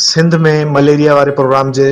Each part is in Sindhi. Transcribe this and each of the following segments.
سنڌ ۾ مليريا واري پروگرام جي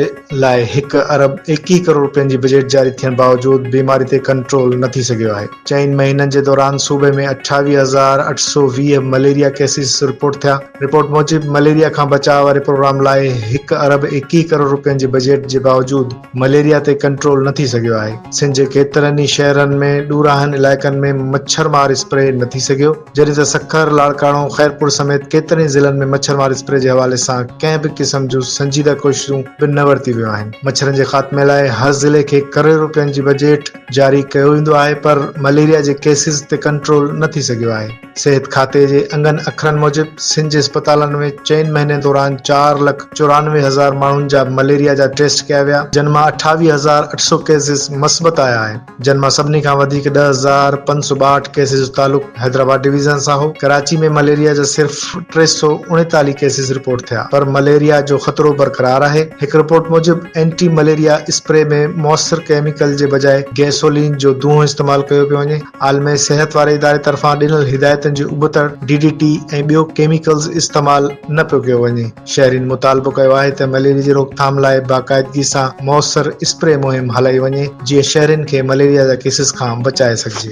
لاء هڪ ارب ايڪيهه ڪروڙ رپين جي بجيٽ جاري ٿيڻ باوجود بيماري تي ڪنٽرول نه ٿي سگهيو آهي چئن مهينن جي دوران صوبي ۾ اٺاويهه هزار اٺ سؤ ويهه مليريا ڪيسز رپورٽ ٿيا رپورٽ موجب مليريا کان بچاء واري پروگرام لاء هڪ ارب ايڪيهه ڪروڙ رپين جي بجيٽ جي باوجود مليريا تي ڪنٽرول نه ٿي سگهيو آهي، سنڌ جي ڪيترن ئي شهرن ۾ ڏوراهن علائقن ۾ مڇر مار اسپري نه ٿي سگهيو، جڏهن ته سکر، لاڙڪاڻو، خيرپور سميت ڪيترن ئي ضلعن ۾ مڇر مار اسپري جي حوالي سان ڪنهن به قسم جون سنجيده ڪوششون به نه ورتيون ويون آهن، مڇرن جي خاتمي لاء هر ضلعي کي ڪروڙين روپين جي بجيٽ جاري ڪيو ويندو آهي پر مليريا جي ڪيسز تي ڪنٽرول نه ٿي سگهيو آهي. صحت کاتي جي انگن اکرن موجب سنڌ جي اسپتالن ۾ چئن مهينن دوران چار لک چورانوي هزار ماڻهن جا مليريا جا ٽيسٽ ڪيا ويا جن مان اٺاويهه هزار اٺ سؤ ڪيسز مثبت آيا آهن جن مان سڀني کان وڌيڪ ڏهه هزار پنج سؤ ٻاهٺ ڪيسز جو تعلق حيدرآباد ڊويزن سان هو ڪراچي ۾ مليريا جا صرف ٽي سؤ اڻيتاليهه ڪيسز رپورٽ ٿيا پر مليريا جو خطرو برقرار آهي هڪ رپورٽ موجب اينٽي مليريا اسپري ۾ موثر ڪيميڪل جي بجاء گيسولين جو دونهون استعمال ڪيو پيو وڃي عالمي صحت واري اداري طرفان ڏنل هدايتن جي ابتڙ ڊي ڊي ٽي ۽ ٻيو ڪيميڪلز استعمال نه پيو ڪيو وڃي، شهرين مطالبو ڪيو آهي ته مليريا جي روڪٿام لاء باقاعدگي سان موثر اسپري مهم هلائي وڃي جيئن شهرين کي مليريا جا ڪيسز کان بچائي سگهجي.